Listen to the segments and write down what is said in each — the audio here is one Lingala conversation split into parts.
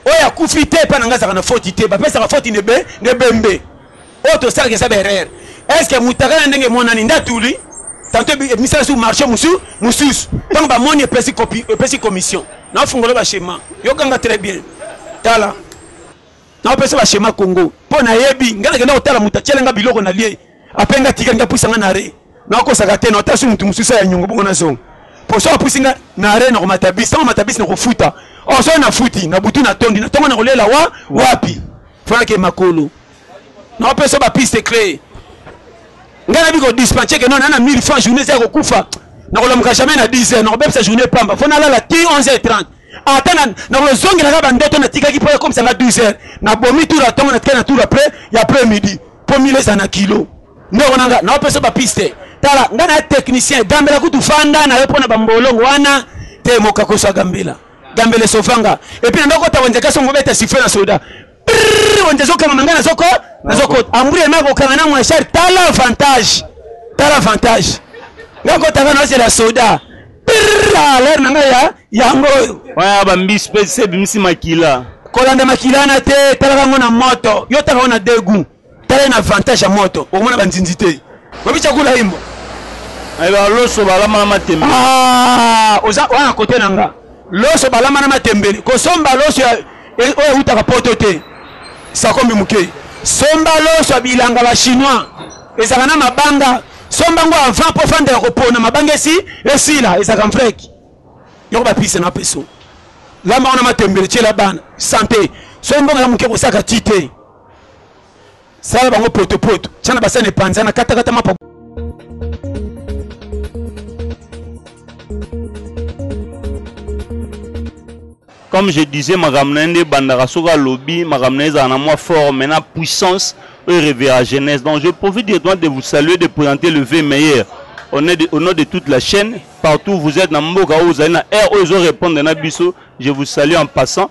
oyo akufi te epai na ngai azalaka na foti te bapesaka foti nebe nebembe oyo tosalaka eza baerreur est ce que motaka na ndenge emonani nde atuli tanto emisala su marché mosusu mosusu ntango bamoni epesi kopi epesi commission nafungola bashema yokanga très bien tala naopesa bashema congo mpo nayebi ngai nakenda kotala moto atyela ngai biloko na lie ape ngai atikali ngai puisa ngai na re nakosaka te nata so motu mosusu ya nyongo bongo nazonga poso apusi nga na are na komata bisi ntango mata bisi na kofuta oso oh, nafuti na butu natondi na ntongo na kolela wa wapi fanake makolo naopesa bapiste cree ngai nabi kodispense ke nona na 1000 franc journée eza ya kokufa nakolamuka jamais na 10 heures nakobebisa journée pamba fo nalala ti 11 heures 30 ata nakozongelaka bandoto natikaki mpo ekomisanga 12 heures nabomi tour atongo natikaki na tour après ya après midi mpo mile eza na kilo ndeko na nga naopesa ba piste tala nga na technicien gambela kutu fanda na yo mpo na bambolongo wana te mokakoso ya gambela gambela esofanga epuis nando kota wenze kasi omobeta sifle na soda wenze ezokanga manga nazoko nazokota amburi ema kokanga na mwashar tala avantage tala avantage nga kotanga nazela soda aler na nga ya yango oyo wana bambisi mpe se ebimisi makila kolanda makila na te talaka yango na moto yo taka yango na degout tala na avantage ya moto okomona banzinzi te oyebi cakula imbo ayeba loso balama na matembele ah, oza wana kote na nga loso balama na matembele kosomba loso e, oyo eutaka poto te sakombi moke somba loso ya bilanga ba chinois ezalaka na mabanga somba ngo avant mpo fanda ya kopona mabanga esi esila ezalaka mfreki yoko bapise na peso lamba wana matembele tyela bana sante sombonga ya moke kosaka ti te sala bango potopoto tia na basani epanzana katakata mapa comme je disais makambo na ye nde ebandaka soki alobi makambo na ye ezala na mwa fort mais na puissance oyo revera jeunesse donc je profite directement de vous saluer de présenter le v meilleur au nom de, au nom de toute la chaîne partout vous êtes na mboka oyo ozali na air oyo ezo répondre na biso je vous salue en passant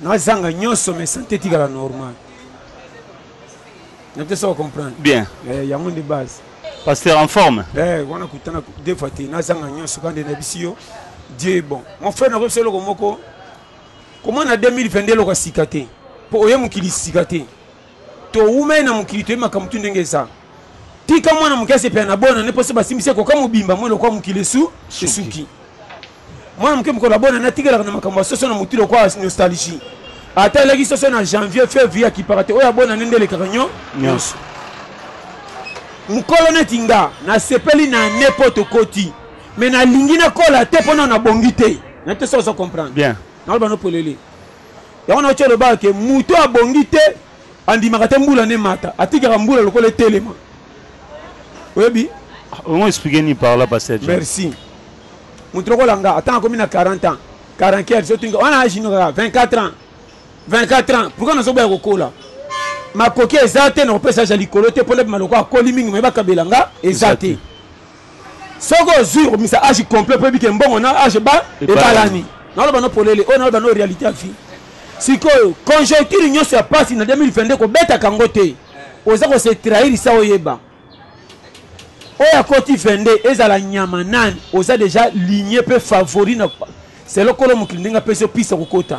Na zanga nyoso mais sante etikala normal. Na pesa comprendre. Bien. Eh, yango nde base. Pasteur en forme. Eh, wana kutana deux fois te. Na zanga nyoso kande na bisi yo. Dieu est bon. Mon frère na kopesa eloko moko. Comment na 2022 eloko sika te. Po oye mokili sika te. Towumeli na mokili toyebi makambo tu ndenge eza. Tika mwana moke asepela na bona ne poso basimbisi ye koka mobimba mwe lokola mokili esu esuki. Mwana moke mokolo abona ne atikelaka na makambo ya soso na motu lokola nostalgie. Ata aleki soso na janvier fevrier akipaka te oyo abona ne nde elekaka nyo nyonso. Mokolo neti nga nasepeli na ne po tokoti me nalingi nakola te po nano nabongi te. Nayebi te soki ozo comprendre. Bien. Naloba no polele. Yango na ocho lobaka ke muto abongi te andimaka te mbula ne mata atikaka mbula lokola etelema. Oyebi? Ongo expliquer ni par là pasteur. Merci. Muto lokola nga ata akomi na 40 ans, 44 so tinga wana age no 24 ans. 24 ans. Pourquoi nazo boya kokola? Makoki eza te na kopesa ja likolo te pona maloko akoli mingi mais bakabela nga eza te. soki ozwi okomisa age complet mpo yebi ke mbongo na age ba ebalani naloba no polele oyo naloba no réalité ya vie sikoyo conjoncture nyonso ya mpasi na 2022 kobetaka yango te oza kose trahirisa oyeba oyo akoti 22 ezala nyama nani oza deja ligne mpe favori na selo kolo mokili ndenge apesi yo pisa kokota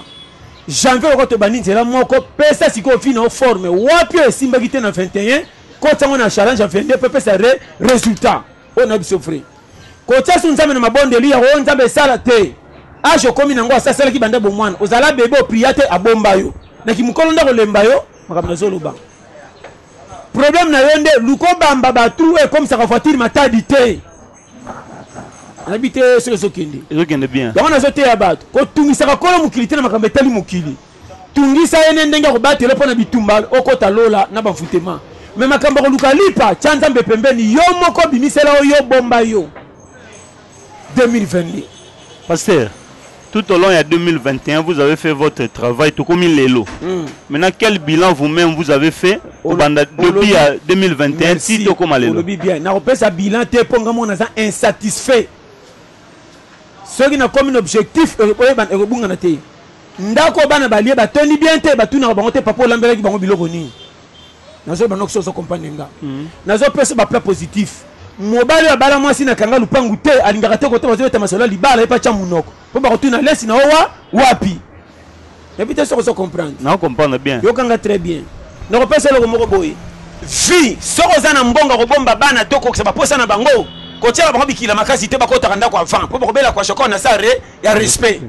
janvier lokola tobandi nzela moko pesa sikoyo vi na yo forme wapi oyo esimbaki te na 21 Kotsa ngo na challenge ya 22 pe pesa re resultat. Oyo na biso vrai. Kotsa su nzambe na mabondeli ya oyo nzambe esala te. Age okomi na ngo asasalaki banda bomwana. Ozala bebe opria te abomba yo. Na kimukolo nda kolemba yo makambo na zoloba. Problème na yo nde luko bamba ba trou ekomisaka voiture matadi te. nayebi te soki ezokende ezokende bien yango nazoteya bato kotungisaka kolo mokili te na makambo etali mokili tungisa ye ne ndenge ya kobatela yo mpo na bitumba okota lola na bavutema me makambo ya koluka lipa tya nzambe pembeni yo moko bimisela yo yo bomba yo 2022 pasteur tout au long ya 2021 vous avez fait votre travail tokomi lelo mm. maintenant quel bilan vous-même vous avez fait obanda depuis ya 2021 ti tokoma lelo olobi bien nakopesa bilan te mpo ngai moko naza insatisfait soki nakomi na objectif ekobungana te Ndaku oyo bana balie batondi bien te batunaka bango te papa olambelaki bango biloko nini nazo bana okiso ozo comprendre nga mm. nazo pesa ba plat positif mobali abala mwasi na kanga lupangu te alingaka te kote bazobeta masolo ya libala ye patya monoko mpo bakotuna lesi na owa wapi nayebi te soki ozo comprendre nao comprendre bien yokanga très bien nakopesa eloko moko boye vi soki oza na mbongo kobomba bana to kokisa baposa na bango kotyela bango bikila makasi te bakotaka ndako avant mpo bakobela kwa shokor na sare ya respect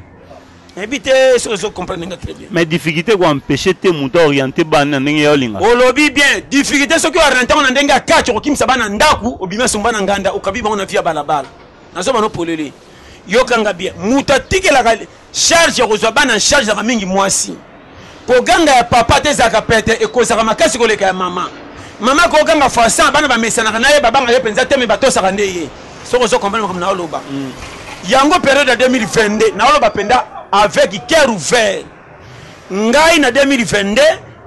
nayebi te soki ozo comprendre nga très bien mais difficulté ko empêcher te moto aoriente bana na ndenge ya olinga olobi bien difficulté soki ooriente yango na ndenge ya kati okokimisa bana ndako obimi asomba na nganda okabi bango na vi ya balabala nazo bana opolele yokanga bien moto atikelaka charge ya kozwa bana charge yaka mingi mwasi Koganga ya papa ata ezalaka pete ekozaka makasi koleka ya mama. Mama akoki koganga fois 100 bana bamesanaka na ye babanga ye mpenza te mais batosaka nde ye soki ozo comprendre makambo naoloba mm. yango periode ya 2022 naoloba mpenza avec cœur ouvert ngai na 2022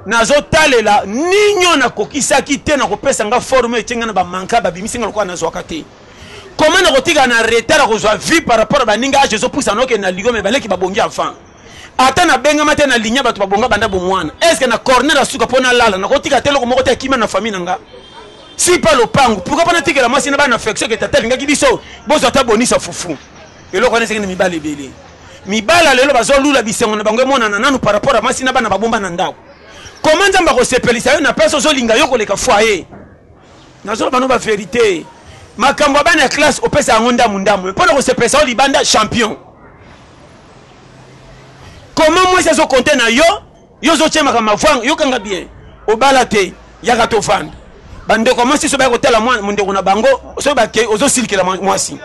nazotalela ninyo nakokisaki te nakopesa nga forme etie ngai na bamanka babimisi ngai lokola nazwaka te koma nakotikala na retard akozwa vie par rapport ya baninga age ezopusa nokende na ligo me baleki babongi avant ata na bengama te na linya bato babonga banda bomwana eske na corner ya suka mpo nalala nakotika te eloko moko te akima na famille na nga si pa lopangu pourkui mpo natikela mwasi na bana affection ke tata alingaki biso bozwa ata bonisa fufu eloko wana esengeli mibala ebele mibala lelo bazolula bisengo na bango emonana nanu par rapport ya mwasi na bana babomba na ndako koma nzambe akosepelisa yo na place ozolinga yo koleka foye nazoloba no baverité makambo ya bana ya classe opesa yango ndambu ndambu mpo na kosepelisa yo libanda champion comment mwasi azo compte na yo yo ozo tie makambo mavwanga yokanga bien obala te yaka tovanda bandeko ya mwasi so baya kotala mondeko na bango soki bakei ozosilikela mwasi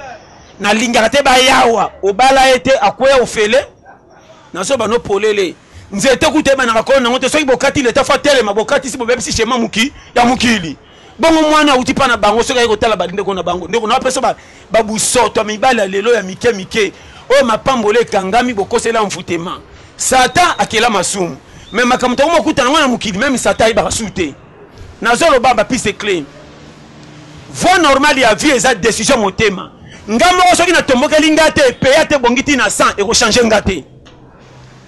nalingaka te bayawa obala ye te akweya ofele nazo bano polele nzete kuta ebanaka kolo nango te soki bokati leta fo atelema bokatisi bobebisi shema moki ya mokili bongo mwana auti mpa na bango soki ayei kotala bandeko na bango ndeko nao mpeso babusoto ya mibali ya lelo ya mike mike oyo mapamboli ekangami bokosela mvutema satan akela masumu me makambo tokomi kokuta nango na mokili meme satan ayebaka su te nazoloba bapiste cle voi normale ya vie eza décision motema nga moko soki natombokeli nga te peya te ebongi ti na 100 ekochange nga te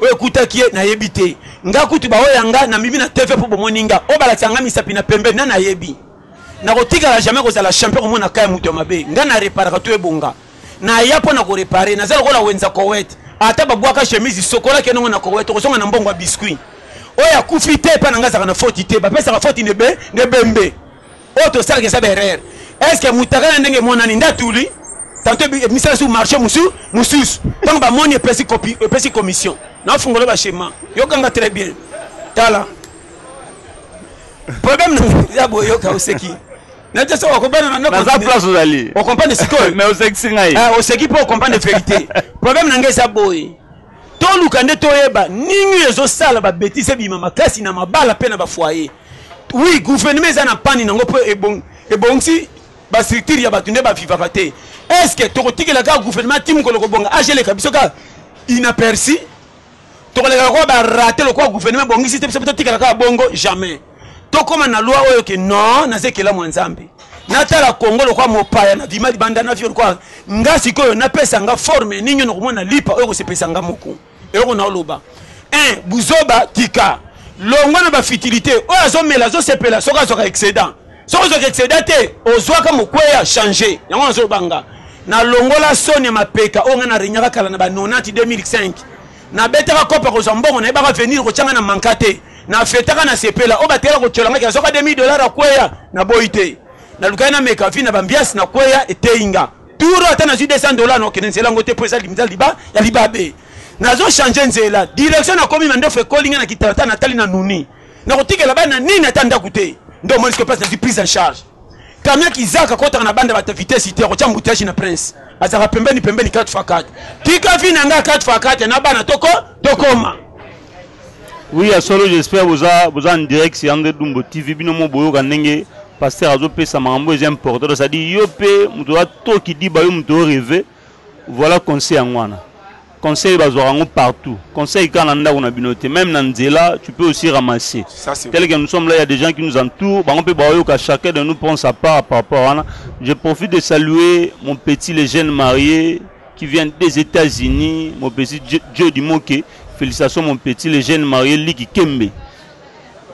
oyo ekutaki ye nayebi te nga kutu baoyo ya nga na mimi na tv mpo bomoni nga oyo balakisa nga misapi na pembe na nayebi nakotikala jamais kozala champion komona kaya moto ya mabe nga na reparaka to ebonga naya mpo na korepare naza lokola wenza kowet ata babwaka chemise sokolaki enongo na kowet okozonga na mbongo ya biscuit oyo akufi te epai na nga azalaka na foti te bapesaka foti nebe nebembe oyo tosalaka eza baerreur estce mutaka na ndenge emonani nde atuli tanto emisala su marché mosusu mosusu ntango bamoni epesi commission nafungola bachema yokanga très bien tala problème ya boyoka oseki nete soki okompanaza place ozali okompane sikoyo mais osekisi ngai eh, oseki mpo okompane verité problème na ngai eza boye toluka nde toyeba nini ezosala babetise ebima makasi na mabala mpe na bafoyer Oui, gouvernement eza na pani nango po ebongisi ba structure ya bato nde ba vivaka te. Est-ce que tokotikela kaka gouvernement ti mokolo kobonga age eleka biso kaka inaperçu? Tokoleka lokola ba rate lokola gouvernement ebongisi te biso pe totikala kaka bongo jamais. Tokoma na loi oyo ke non naza ekelamu ya Nzambe. Natala Congo lokola mopaya na vima libanda na vio lokola nga sikoyo napesa nga forme nini oyo nakomona lipa oyo ekosepelisa nga moko. eloko na oloba un buzoba tika longwa na bafutilité oyo azomela azosepela soki azwaka excédent soki ozwaka excédent te ozwaka mokweya change yango nazobanga nalongola soni ya mapeka oyo ngai naregnaka kala na ba 90 2005 nabetaka kopa kozwa mbongo nayebaka venir kotyanga na manka te na fetaka na sepela oyo batela kotyola ngai azoka 2000 dollar akweya naboyi te nalukaki nameka vi na bambiasi nakweya eteyi nga Tour ata nazwi 200 dollars na okende nzela yango te mpo eza limza liba ya libabe nazo change nzela direction nakomi mandefu ekoli ngai na kitalata natali na nuni nakotikela bana nini ata ndako te nde omoni sikoyo place nazwi prise en charge kamia kizaka kotaka na banda bata vitesse te akotya mbutiage na prince azalaka pembeni pembeni 4 fois 4 tika vi na ngai 4 fois 4 na bana toko tokoma Oui ya solo j'espère boza boza en direct sur André Dumbo TV bino mo boyoka ndenge pasteur azo pesa makambo eza important c'est à dire yo pe moto wa to kidiba yo moto rêver voilà conseil yango wana conseil bazwaka yango partout conseil kaka na ndako na bino te même na nzela tu peux aussi ramasser tel que nous sommes là il y a des gens qui nous entourent bango mpe baoyoka chacun de nous prend sa part par rapport wana je profite de saluer mon petit le jeune marié qui vient des etats unis mon petit joe dimoke félicitations mon petit le jeune marie liki kembe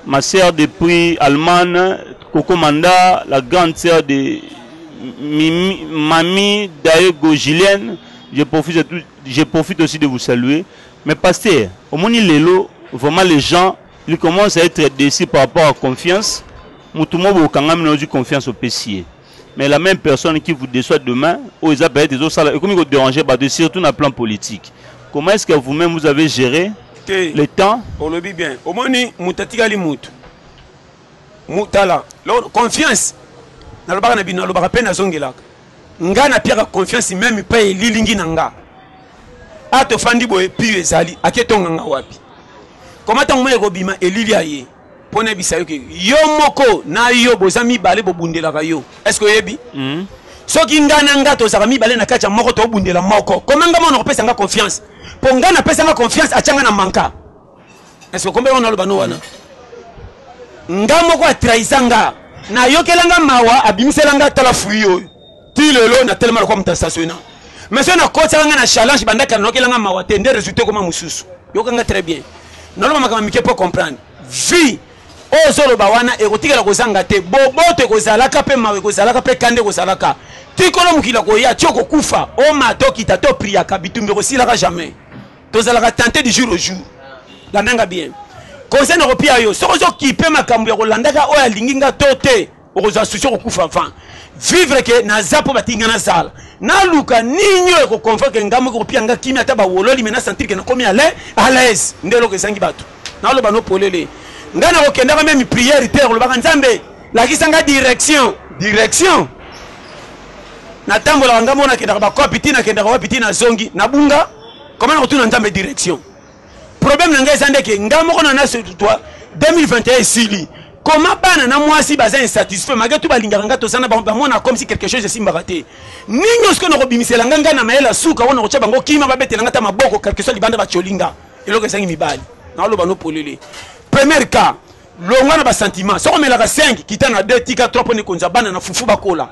ma sœur de prix allemagne coco manda la grande sœur de Mimi, mamie daego julienne je profite, tout, je profite aussi de vous saluer mais pasteur omoni lelo vraiment les gens ils commencent à être déçus par rapport à confiance motu moko bokangami na ozwi confiance opesi ye mais la même personne qui vous déçoit demain oyo eza peut-être ezosala ekomi ko déranger bato surtout na plan politique comment est-ce que vous-même vous avez géré te le temps olobi bien omoni moto atikali moto motala confiance nalobaka na bino nalobaka mpe nazongelaka nga napiaka confiance meme epai elilingi na nga a tofandi boye pio ezali aketonga nga wapi koma ntango mai ekobima elili aye mpo nayebisa yo ke yo moko na yo boza mibale bobundelaka yo eske oyebi mm. soki ngai na ngai tozalaka mibale na kati ya moko tobundela moko koma ngai mona kopesa ngai confiance mpo ngai napesa ngai confiance atya ngai na manka eske okombe wana aloba no wana ngai moko atrahisa ngai nayokela ngai mawa abimisela ngai tala fui oyo ti lelo na telema lokola moto asasoi na mais soki nakotisaka ngai na challenge bandaki anokela ngai mawa te nde résultat ekoma mosusu yoka ngai très bien naloba makambo mike mpo comprendre vie oyo ozoloba wana ekotikala kozanga te boboto ekozalaka mpe mawa ekozalaka mpe kanda ekozalaka tikolo mokili akoya ti okokufa oma tokita to priaka bitumbi ekosilaka jamais tozalaka tente du jour au jour landanga bien conseil na kopia yo soki ozokipe makambo ya kolandaka oyo alingi nga to te okozwa souci okokufa avant vivre ke naza mpo batiki nga nazala naluka nini oyo ekoconvaincre nga moko kopia nga kimia ata bawololi me nasentir ke nakomi ale alaise nde eloko ezangi bato naloba no polele ngai nakokendaka meme priere te kolobaka nzambe lakisa nga direction direction natambolaka ngai mona nakendaka bakopi ti nakendaka wapi ti nazongi nabunga koma nakotuna nzambe direction problème na ngai eza ndeke ngai moko na naso toi 2021 esili koma bana na mwasi baza insatisfait malgré tout balingaka ngai toza na bango bamona comme si quelque chose esimbaka te nini osiko nakobimisela ngai ngai na mayele ya suka wana kotya bango kima babetela ngai ta maboko quelque soit libanda batyoli nga eloko ezangi mibali naoloba no polele première cas longwa na basentiment soko omelaka 5 kita na 2 tika 3 mpo nekonza bana na fufu bakola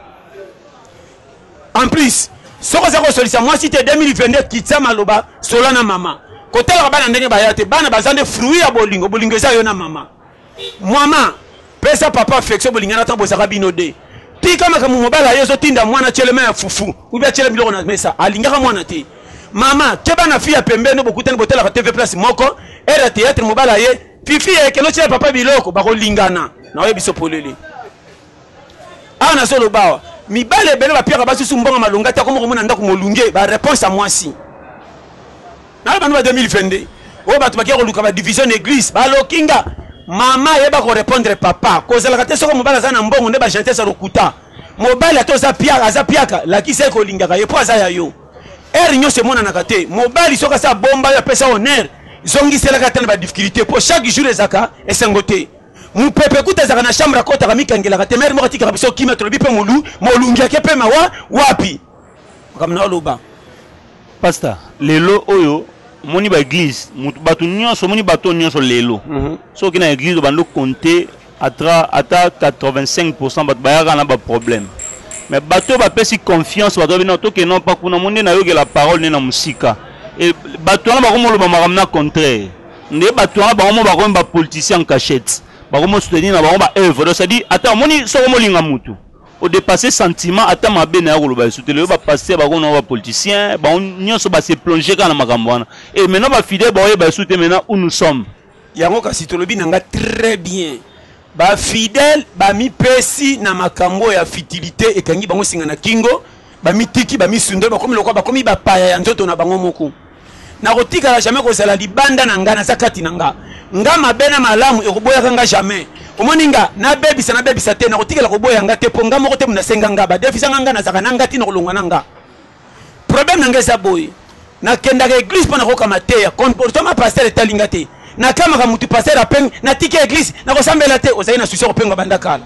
En plus, soki oza kosolisa mwasi te 2022 kitisa maloba sola na mama kotalaka bana ndenge baya te bana baza nde fruit ya bolingo bolingo eza yo na mama mama pesa papa affection bolingana ntango bozaka bino de tika makambo mobali aye ezotinda mwana tyelema ya fufu ubi atyela biloko na mesa alingaka mwana te mama keba na fi ya pembeni bokutani botalaka tv place moko ere ya théâtre mobali aye fifi ya ekelo tyela papa biloko bakolingana na oyebiso polele awa nazo loba awa mibale ebele bapiaka basi su mbongo malonga te akoma komona ndako molunge ba réponse ya mwasi nalo bando ba 2022 oyo bato bakia koluka ba division na église baloki nga mama ayeba korépondre papa kozalaka te soko mobali aza na mbongo nde bagentese ya lokuta mobali ata oza piaka aza piaka lakisa ye kolingaka ye mpo aza ya yo ere nyonso emonanaka te mobali soki asa bomba yo apesa honere zongiselaka ata na badifficulté mpo chaque jour ezalaka esengo te mupepe kuta ezalaka na chambre akotaka mikangelaka te mere moko atikaka biso kimia tolobi mpe molu molungi ake mpe mawa wapi makambo na oloba pasta lelo oyo omoni baeglise bato nyonso omoni bato nyonso lelo mhm. soki na eglise obandi okonte ata 85 pourcent bato bayaka na baproblème mais bato oyo bapesi confiance bato babino toke non mpa kuna mo nde nayokela parole nde na mosika bato wana bakomoloba makambo na contraire nde bato wana bango mo bakomi ba politicien en cachette bakomo soutenir na bango ba œuvre donc c'est-à-dire ata omoni soko molinga motu odepasse sentiment ata mabe na ya koloba lisusu te lelo bapaster bakomi na ba politicien bango nyonso base plonge kaka na makambo wana e maintenant bafidele baoyeba lisusu te maintenant où nous sommes yango kasi tolobi na nga très bien Ba fidèles ba mi pesi na makambo ya futilite ekangi bango singa na kingo, ba mi tiki, ba mi sundoli, ba komi lokola ba komi ba paya ya nzoto na bango moko. Na ko tikala jamais ko zala libanda na nga, na za kati na nga. Nga mabe na malamu e ko boyaka nga jamais. Omoni nga, na bebisa na bebisa te, na ko tikala ko boya nga te po nga moko te mutu na senga nga, ba defisa nga, nga na zalaka na nga ti na ko longwa na nga. Problème na nga eza boye. Na kendaka église pona koka mateya. Comportement pasteur etali nga te. Na kamaka mutu pasteur apeng na tiki église na kosambela te. Ozali na souci ya kopenga banda kala.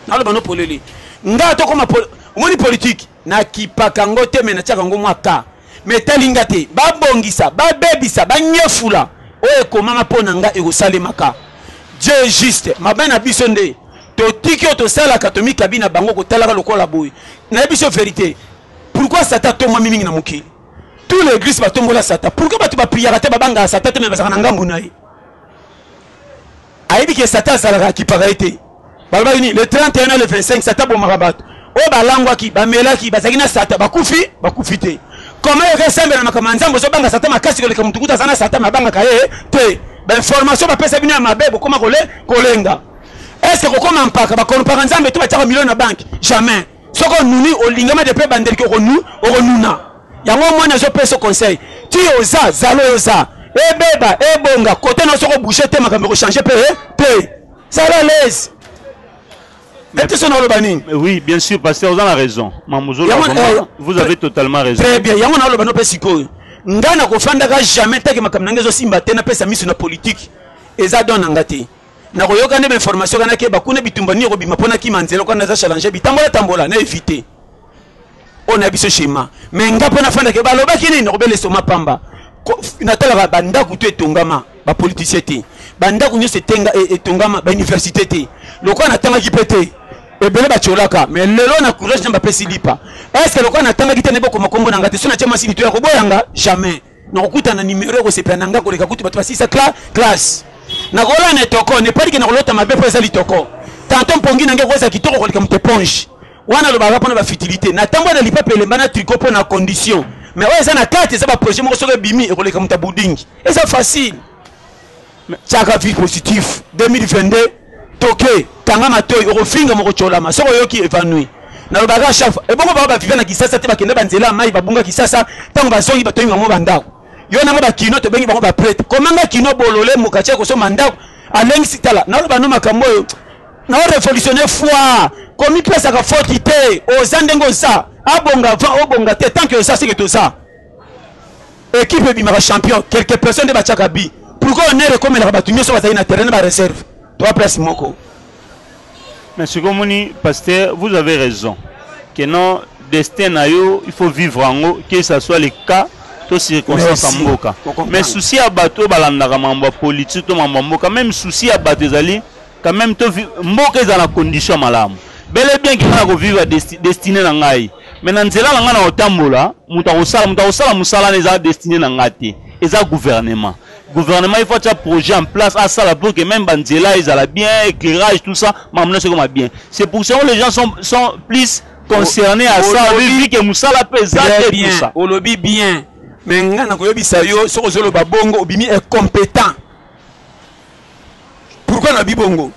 Na loba no polele. Nga to koma pol... omoni politique na kipaka ngo te me na tiaka ngo mwa ka. Me etali nga te. Ba bongisa, ba bebisa, ba nyefula. Oyo ekomama pona nga ekosalemaka. Dieu est juste. Mabe na biso nde totiki oyo tosalaka tomikabi na bango kotalaka lokola boye. Nayebi biso verite. Pourquoi Satan atombwami mingi na mokili? Tous les églises batombola Satan. Pourquoi bato ba priaka te babangaka Satan te mais bazalaka na ngambo na ye? Ayebi ke Satan azalaka akipaka ye te. Balobaki nini? Le 31 na le 25 Satan abomaka bato. Oyo balangwaki, bamelaki, bazalaki na Satan, bakufi, bakufi te. Comment yoka esembe na makambo ya Nzambe ozobanga Satan makasi koleka motu kuta aza na Satan mabangaka ye te. Ba information bapesa bino ya mabe bokoma kole kolenga. Est-ce que kokoma mpaka bakonopaka Nzambe to batiaka milioni na banki? Jamais. soki onuni olingama de mpe bandeliki okonu okonuna yango omoni azopesa conseil ti oza zalo yoza ebeba ebonga kote na soko bouge te makambo ekochange mpe eh, te zala lese eteso naoloba nini oui bien sûr pasteur oza na raison mamuzolo eh, vous avez totalement raison très bien yango naoloba no mpe sikoyo ngai nakofandaka jamais ntake makambo na ngai ezosimba te napesa miso na politike eza don na ngai te nakoyoka nde ba information kana keba kuna bitumba nini ekobima mpo nakima nzela okana naza challenge bitambola tambola na evite oyo na biso shema me nga mpo nafandake balobaki nini nakobela esoma pamba natalaka bandako to etongama bapolitisien te bandako nyonso e, etongama bauniversité te lokola natangaki mpe te ebele bacolaka me lelo na courage na bapesi lipa estce lokola natangaki te nde bokoma nkombo na nga te so natya mwasi lito ya koboyanga jamais nakokuta na numero ya kosepela na nga koleka kutu bato basisa cla classe nakola na etoko nepalike nakolota mabe mpo eza litoko tanto mpongi na nge koza kitoko koleka moto eponge wana alobaka mpona bafutilité natambwa na lipa pelemba na triko mpo na condition mais oyo eza na kati eza baprojet moko soki ebimi ekoleka moto ya budingi eza facile Tiaka vie positif 2022 toke kanga matoi okofinga mokocolama soki oyoki evanouir nalobaka chaque ebongo bango baviva na kisasa te bakenda banzela ya mai babunga kisasa ntango bazongi batongi bango bandako yo nango bakino tobengi bango baprete komanga kino bolole mokaci ya kosomba ndako alengisi tala naloba no makambo oyo na orevolutionne foi komipesaka foti te oza ndenge oza abonga va obonga te tanke oza seke toza Equipe ebimaka champion quelques personnes nde batiaka but. Pourquoi honneur ekomelaka bato nyonso bazali na terrain na ba reserve? Toa place moko. Mais sikoyo moni pasteur, vous avez raison que non destin na yo il faut vivre yango que ça soit le cas to circonstance ya mboka mais souci ya bato oyo balandaka mambo ya politiki to mambo ya mboka meme souci ya bato ezali quand même to mboka eza na condition malamu bele bien ki na ko vivre destiné na ngai mais na nzela na ngai na kotambola moto akosala moto akosala mosala na eza destiné na ngai te eza gouvernement gouvernement il faut atya projet en place asala pour que même banzela ezala bien éclairage tout ça mamona sekoma bien c'est pour ça que les gens sont, sont plus concernés à ça vu que mosala mpe eza te tout ça olobi bien mais ngai nakoyebisa yo soki ozoloba bongo obimi incompétent Pourquoi na bibongo?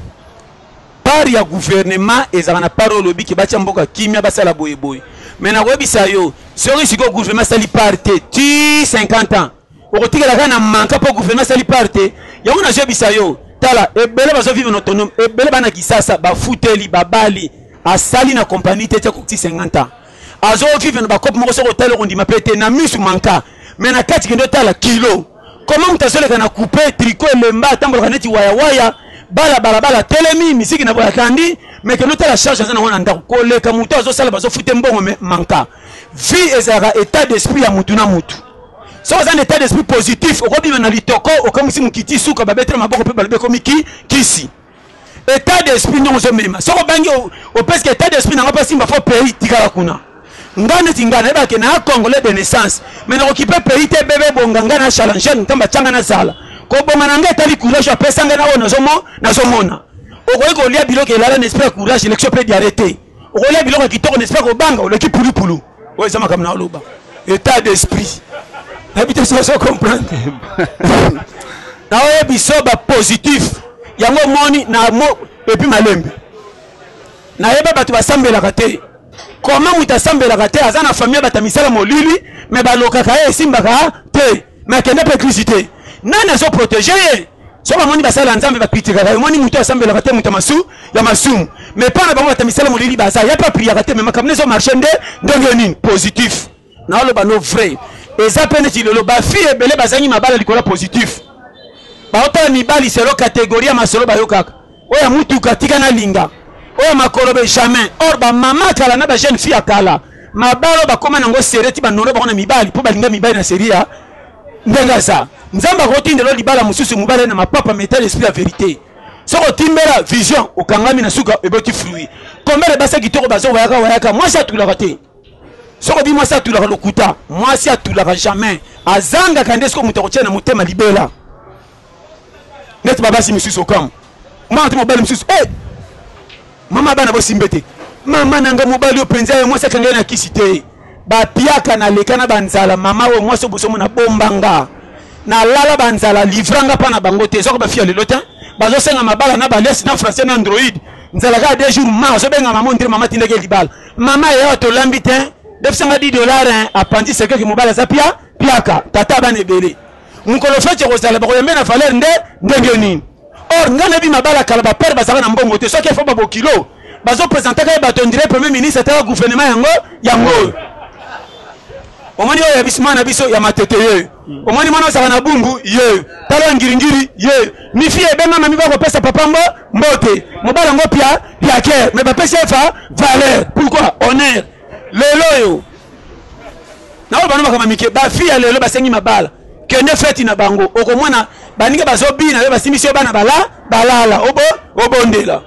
Part ya gouvernement ezaka na part olobi ke batia mboka kimia basala boye boye. Mais nakoyebisa yo soki siko gouvernement sali part te ti 50 ans okotikala kaka na manka mpo gouvernement sali part te yango nazoyebisa yo tala ebele bazo vivre na autonome ebele bana kisasa bafuteli babali asali na compagnie te ti akokuti 50 ans azo vivre na bakope moko soki otali okondima mpe te na misu manka mais na kati kende otala kilo Comment moto azoleka na coupe tricot elemba atambolaka neti waya waya bala bala bala telemi misiki na boya tandi mais kendo tala charge aza nango na ndako koleka moto azosala bazofute mbongo mais manka vie ezalaka état d'esprit ya motu na motu soki oza na état d'esprit positif okobima na litoko okamwisi mokiti suka babetela maboko mpe balobi ekomi ki kisi etat d'esprit ndenge ozomema soki obangi opeske etat d'esprit nanga mpo asimba fo pays tikala kuna nga neti nga nayebaka ke naa congolais de naissance me nakokipe pays te bebe bonga nga na challenge ntambo atyanga nazala kobonga na nga etali courage apesa nga na oyo nazomona okoki kolia biloko elala na esprit ya courage election mpe diare te okolia biloko ya kitoko na esprit ya kobanga oleki pulupulu oyo eza makambo na oloba état d'esprit nayebi te soso comprendre naoye biso bapositif yango omoni na mo epi malembe nayeba bato basambelaka te koma moto asambelaka te aza na famille bata misala molili me balokaka ye esimbaka te me akende mpe eglise te nani azoprotege ye soki bamoni basali ya nzambe bakritikaka yo moni moto asambelaka te moto masu ya masumu mais mpo na bango bata misala molili baza ya mpe apriyaka te me makambo nezo marche nde ndenge nini positif naoloba no vrai eza mpe neti lelo bafille ebele bazangi mabala likolo ya positif baotala mibali selo kategorie ya masolo bayokaka oyo ya mutuka tika nalinga oyo ya makolobe jamais or bamama kala na bajeune fille ya kala mabalo bakoma nango serie ti banono bango na mibali mpo balinga mibali na serie ya ndenge aza nzambe akotindela libala mosusu mobali na mapapa metal esprit ya verité soki otimbela vision okangami na suka eboti fruit kombele basa kitoko bazo wayaka wayaka mwasi atulaka te soki obi mwasi atulaka lokuta mwasi atulaka jamais azangaka nde soki moto akotia na motema libela neti babasi mosusu okamu mwana to mobali mosusu e eh! mama bana bosimbe te mama na ngai mobali oyo mpenza ye mwasi akende na kisi te bapiaka naleka na banzala mama oyo mwasi obosomo na bombanga nalala banzala livranga mpa na bango te ezwaka bafiya lelo te bazosenga mabala na baliasi na français na android nzala kaka deux jours ma ozobenga mama ondire mama tindaki libala mama yeyo tolambi te defisanga 10 dollar apandi sekeki mobali aza pia piaka tata bana ebele mokolo feti ekozala bakoyambe na valeur nde ndenge nini or ngai nayebi mabala kala bapere bazalaka na mbongo te soki efo babokilo bazopresentaka ye bato ondire premier ministre ataka gouvernement yango yango oyo omoni oyo ya bisima na biso ya matete yeyo omoni mwana ozaka na bumbu yeyo tala ya ngiringiri yeyo mifi ebengama mi bakopesa papa mbo mbote mobali yango pia piakere me bapesi efa valeur pourquoi honneur lelo oyo naoyo bano makambo mike bafi ya lelo basengi mabala kende feti na bango okomona baninga bazobina yo basimbisi yo bana bala balala obo obondela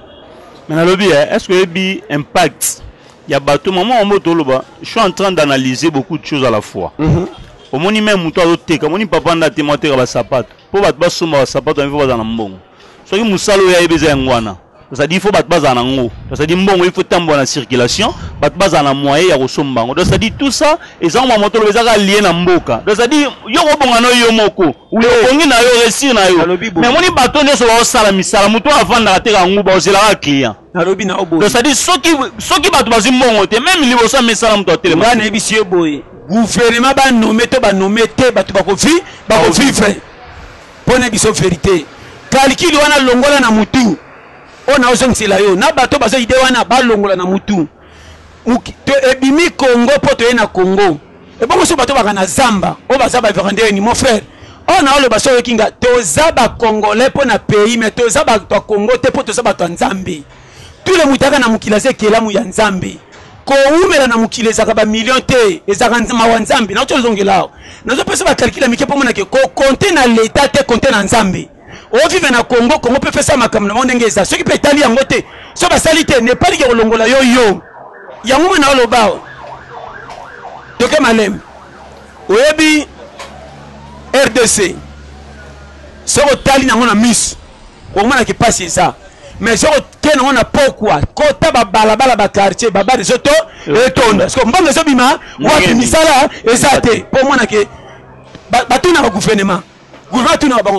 mais nalobi eh, est ce que oyebi impact ya bato mama yango toloba je suis en train d'analyser beaucoup de choses à la fois mm -hmm. omoni meme moto azoteka omoni papa nda tema oteka basapato mpo bato basomba basapato yango mpo bazala na mbongo soki mosala oyo ayebi eza yango wana cest il faut bato bazala na yango cest mbongo il faut etambola na circulation bato bazala na moyen ya kosomba yango donc cest tout ça eza mwa moto loba ezaka lie na mboka donc cest yo kobonga na yo moko obongi na yo resir na yo mais omoni bato nyonso baosala misala moto oyo avandaka te kangu baozelaka client nalobi na oboye donc cest soki soki bato bazwi mbongo te meme liboso ya misala moto atelema nga nayebisi yo boye gouvernement banome to banome te bato bakovivre Pona biso verite. Calcul wana longola na mutu. Oyo na ozongisela yo na bato bazo idee wana balongola na mutu. To ebimi Congo po toye na Congo. Ebongo so bato baka na zamba oyo baza ba verandeur ni mon frère. Oyo na oloba so yoki nga toza ba congolais po na pays mais toza bato ya Congo te po toza bato ya Nzambe. tule mutaka na mokili aza ekelamu ya nzambe kowumela na mokili ezalaka bamillion te ezalaka mawa nzambe nauti ozongela awa nazopesa bakalkile ya mike mpo monake kokonte na leta te konte na nzambe ovive na congo congo mpe pesa makambo na bango ndenge eza soki mpe etali yango te so basali te nepalike kolongola yo yo yango mwana oloba awa toke maleme oyebi rdc soki otali nango na miso Omona ki pasi eza. Mais soko ken on a pourquoi kota ba balabala ba quartier ba bari zoto et tonda. Soko mbongo zo bima wapi misala eza te. Po mona ke ba tuna ba gouvernement. Gouvernement tuna ba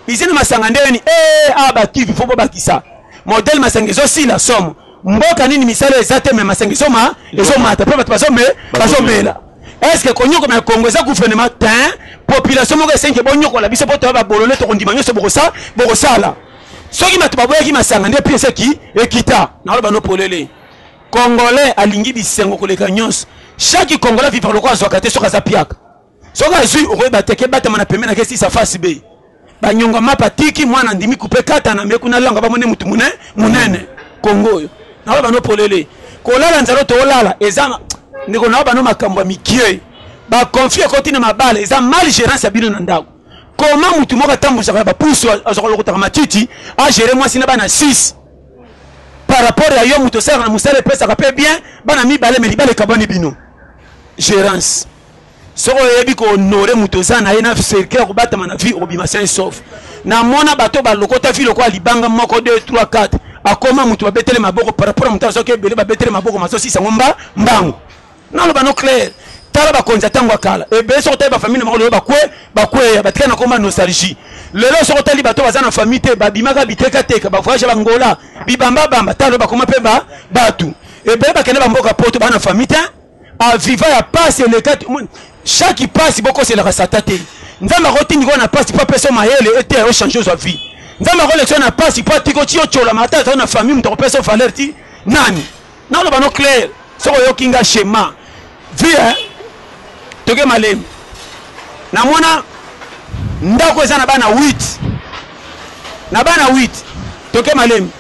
izini masanga ndeni eh ah ba kivi faut ba kisa. Modèle masanga zo si la somme. Mboka nini misala eza te mais masanga zo ma ezo mata pe bato bazo me bazo mela. est ce que konyokola na congo eza gouvernement tin population moko esengi bonyokola biso mpo toya babolole tokondima nyonso bokosala soki bato baboyaki masanga nde pi eseki ekita naloba no polele congolais alingi bisengo koleka nyonso chaque congolais vivre lokola azwaka te soki aza piaka soki azwi okoyeba te kebatama na pembe na kesisa face be banyonga mapa tiki mwana ndimi kupe kata na meku na langa bamone mutu mune munene kongo oyo nawa bano polele kolala nzalo tolala eza ndeko nawa bano makambo ya mikie bakonfli ekoti na mabala eza mal gerance ya bino na ndako koma mutu moko atambusaka ya bapusu azwaka lokotaka matiti agere mwasi na bana 6 par rapport ya yo mutu osalaka na mosala epesaka mpe bien bana mibale me libala ekabwani bino gerance soki oyebi ko honore moto oza na ye na cercle ya kobatama na vie okobima sain sauf namona bato balokota vie lokola libanga moko 2 3 4 akoma moto babetele maboko par rapport ya moto azoki ebele babetele maboko mazosisa yango mba mbangu naloba no claire tala bakonzi ya ntango ya kala ebele soki otali bafamille na bango lelo bakwe bakweya batika na koma nostalgie lelo soki otali bato baza na famille te babimaka bitekateka bavoyage ya bangola bibambabamba talo bakoma mpe ba bato ebele bakende bamboka poto bana famille te aviva ya pasi eleka chaque pasi bokoselaka sata te nzambe akotindika na pasi mpo apesa mayele ete yo change ozwa vie nzambe akolekisa na pasi mpo atiki otiyo colama ata azali na famille moto akopesa valeur ti nani naloba no claire soki oyoki nga shema vie eh? toke malemi namona ndako eza na bana 8 na bana 8 toke malemi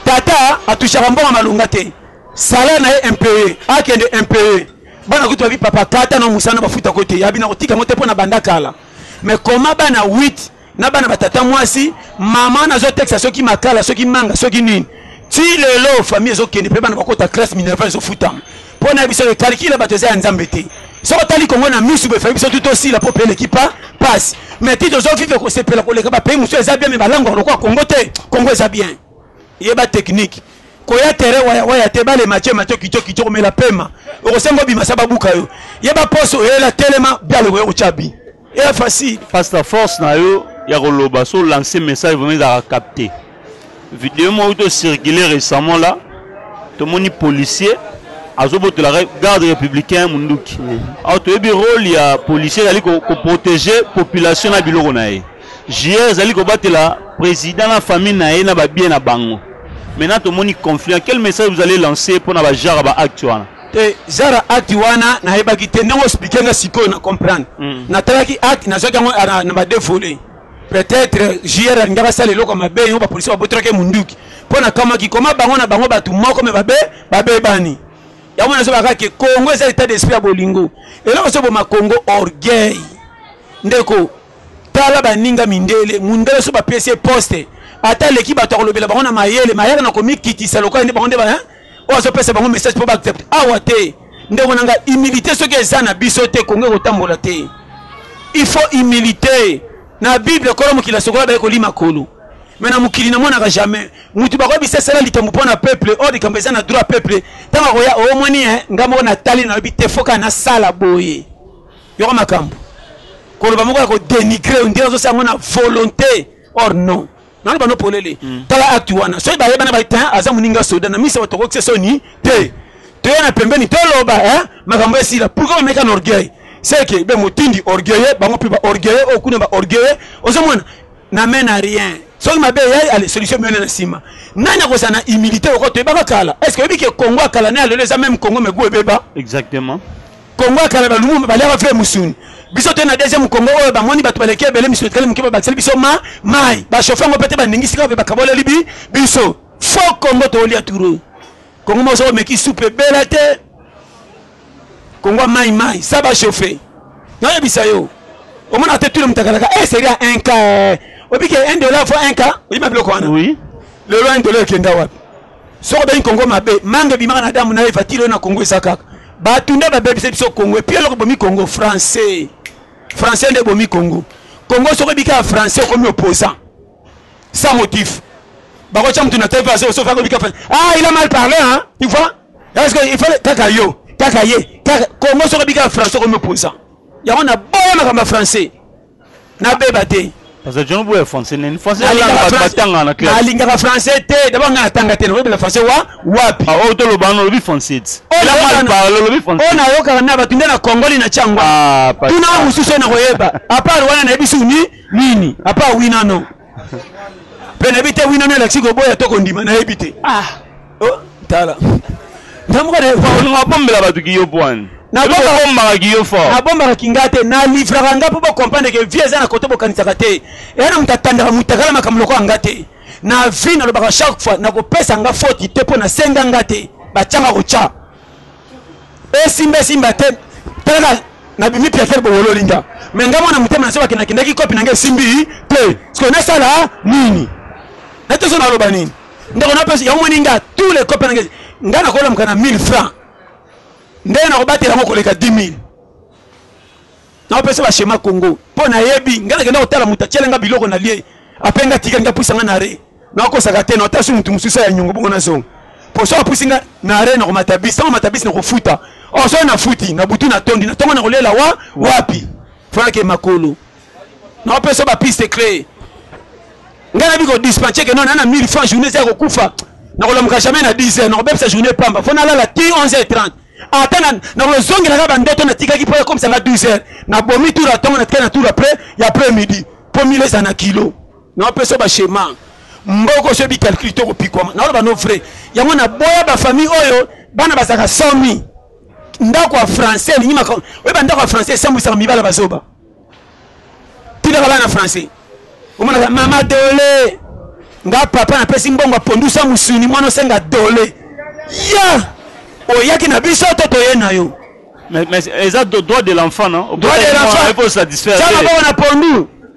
tata atushaka mbongo malonga te Salaire na ye impayee akende impayee bana kutu babi papa kata na musana bafuta ko te yabi na kotika yango te mpo na banda kala mais koma bana 8 na bana batata mwasi mama nazotekisa soki makala soki manga soki nini ti lelo famille ezokende mpe bana bakota classe minerva ezofutama mpo na biso ekalikila bato eza ya nzambe te soki otali kongo na misu befai biso tu tosila mpo mpe eleki pa pasi mais ti tozovivre kosepela koleka bapays mosusu eza bien me balangwaka lokwa kongo te kongo eza bien yeba technique koya terrain waya waya te bale mache mache kicho kicho komela pema okosenga obima sa babuka yo yeba poste oyela telema bialo koya kotya bi eya facile pasteur force na yo ya koloba so lancer message vraiment ezalaka capte video moko to circule récemment là tomoni policier azobotola garde républicain munduki alors toyebi rôle ya policier ezali koprotege population na biloko na ye GR ezali kobatela president na famille na ye na ba bien na bango. Maintenant tomoni conflit. Quel message vous allez lancer pona ba genre ba acte wana? te zara acte wana nayebaki te ndenge ospike nga sikoyo na comprendre mm. natalaki acte nazwaki yango ah, na bade volet peut-être jr alingi basala eloko mabe yango bapolisi babotelaki munduki mpo nakamwaki koma bango na bango bato moko me babe babebani yango nazobaka ke kongo eza etat d'esprit ya bolingo eloko ezoboma kongo orgueil ndeko Tala baninga mindele, mundele soki bapesi ye poste ata aleki batu ya kolobela bango na mayele, mayaka na komikitisa lokola nde bango nde ba hein oyo azopesa bango message po ba accepte awa te ndeko na nga humilite soki eza na biso te kongo ekotambola te il faut humilite na bible kolo mokili asokola baye kolima kolo me na mokili namonaka jamais motu bakoyebisa esala likambo mpo na peuple oyo oh, likambo eza na droit peuple ntango akoya omoni oh, eh, nga moko natali nayebi te foka nasala boye Yoka makambo. Koloba moko ya ko dénigrer on dirait ozo sala na volonté or non. Naloba no polele. Mm. Tala acte wana. Soki ba yebana ba tin aza muninga soda na misa batoko kse soni te. Toya na pembeni toloba hein makambo esila. Pourquoi ba meka na orgueil? C'est que be motindi orgueilleux bango pe ba orgueilleux o kuna ba orgueilleux ozo mona na mène à rien. soki mabe eyai ale solution miyone na nsima nani akozala na humilité oko toyebaka kala est ce que oyebi ke congo ya kala na ya lelo eza meme congo me gu ebeba exactement Congo ya kala ba lumumba baliaka vrai musuni biso te na deuxième congo oyo bamoni bato baleki ebele misuni etikali moke babakiseli biso ma mai bashofe yango mpe te baningisi kaka mpe bakaboleli bi biso fo congo toolia turo congo moso omeki supu ebela te congo ya mai mai sa bashofe nayebisa yo omona te tule mutakalaka e eh, seria un cas obike un dollar fo un cas oyima biloko wana lelo un dollar ekenda wapi soki obengi kongo mabe mange ebimaka na adamu na eva tilo na kongo eza kaka bato nde babebisa biso kongo epi eloko bomi kongo français français nde bomi kongo kongo soki ebika ya français okomi opposant sans motif bakotya motu na tv azosofa akobika ah il a mal parlé hein tu vois est ce que il fallait kaka yo kaka ye kaka kongo soki ebika ya français okomi opposant yango na boya makambo ya français Na beba te. Pasteur John Boya français nini? Français ya langa ba tanga na classe. Alinga ka français te, d'abord nga tanga te, na bela français wa wapi? Ah, oh to lo bano lobi français. Oh, la mal parle lobi français. Oh na yo ka na ba tunda na Congoli na chango. Ah, pas. Tuna mususu na koyeba. Apart wana na bisu ni nini? Apart oui na non. mpe nayebi te wino nde elakisi koboya to kondima nayebi te ah. oh, tala ntamukaolinga bombela bato kiyo pwani nabombaka kiyo fort nabombaka kinga te nalivraka nga mpo bocomprendre ke vie eza na kote bokanisaka te eya na moto atandaka motakala makambo lokola nga te na vie nalobaka chaque fois nakopesa nga foti te mpo nasenga nga te batyanga kotya esimba esimba te talaka nabimi piatere bowololi nga me nga mwana motema na se bakendakendaki kopi na nga esimbi te sikoyo nasala nini nateso naloba nini ndeko napesi yango moni nga tous les kopi na nga nga nakolamuka na 1000 franc ndenge nakobatela yango koleka 10 000 naopesa bashema congo mpo nayebi nga nakenda kotala moto atyela nga biloko na lie ape nga tikali nga puisa nga na re nakosaka te nata so motu mosusu ya nyongo bongo nazonga poso apusi nga na are na komata bisi ntango mata bisi na kofuta oso oh, nafuti na butu natondi na ntongo na kolela wa wapi fanake makolo naopesa bapiste clé ngai nabi kodispense ke nona na 1000 franc journée eza ya kokufa nakolamuka jamais na 10 heures nakobebisa journée pamba fo nalala ti 11 heures 30 ata nakozongelaka bandoto natikaki mpo ekomisanga 12 heures nabomi tour atongo natikaki na tour après ya après midi mpo mile eza na kilo Na opesa ba schema mboka oso yebi calcul to kopikwama na oloba no vrai yango na boya ba famille oyo bana bazaka 100.000 ndako ya français elingi maka oyeba ndako ya français esambwisaka mibala bazoba tindaka bana français omonaka mama dole nga papa napesi mbongo apondusa mosuni mwana osenga dole ya oyaki na biso to toye na yo mais, mais eza droit de l'enfant non droit de l'enfant il faut satisfaire ça va on a pondu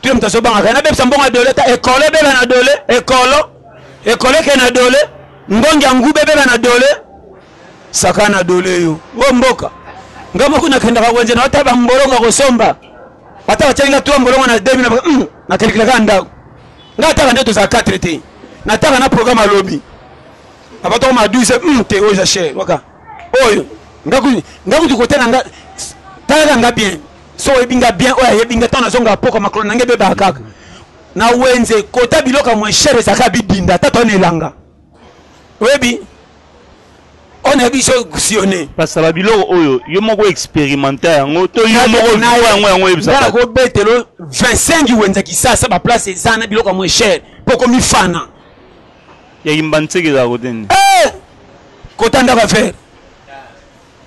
Tule moto azobanga kaya nabebisa mbongo ya dole ta ekolo ebeba na dole ekolo ekolo eke na dole ngongi ya nguba ebeba na dole saka na dole yo o mboka nga moko nakendaka wenze na ata bambolongo ya kosomba ata batialinga twa mbolongo na demi hmm, nakelikilaka ndako nga ataka nde tozala 4 te nataka na programme alobi abatoko ma 12 hmm, te oyo eza chere waka oyo nga kutu kote na nga talaka nga bien so oyebi nga bien oyo ayebi nga ntango nazongaka poko makolo na nga ebebaka kaka na wenze kota biloko ya moins cher ezalaka bidinda ata toa na elanga oyebi oyo nayebi so sione pasala biloko oyo yo moko experimenta yango to yo moko yango yango oyebisaka kobetelo 25 wenza kisasa baplace eza na biloko ya moins cher mpo komifana ya yimba nseke ezala kote nini eh! kota ndako ya vere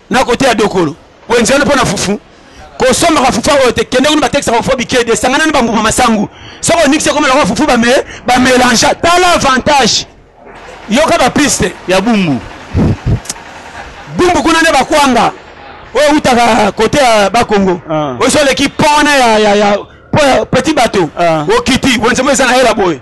na kote ya dokolo wenze wana mpo na fufu kosombaka fufu oyo te kende kuna batekisaka fufu bikedi esangana na bambuma masangu soki onikisi ekoma lokola fufu bamelange tala avantage yoka bapiste ya bumbu bumbu kuna nde bakwanga oyo ewutaka kote ya bakongo ah. oyo so oleki pona ya, ya, ya petit bato ah. okiti wenze mo eza na hela boye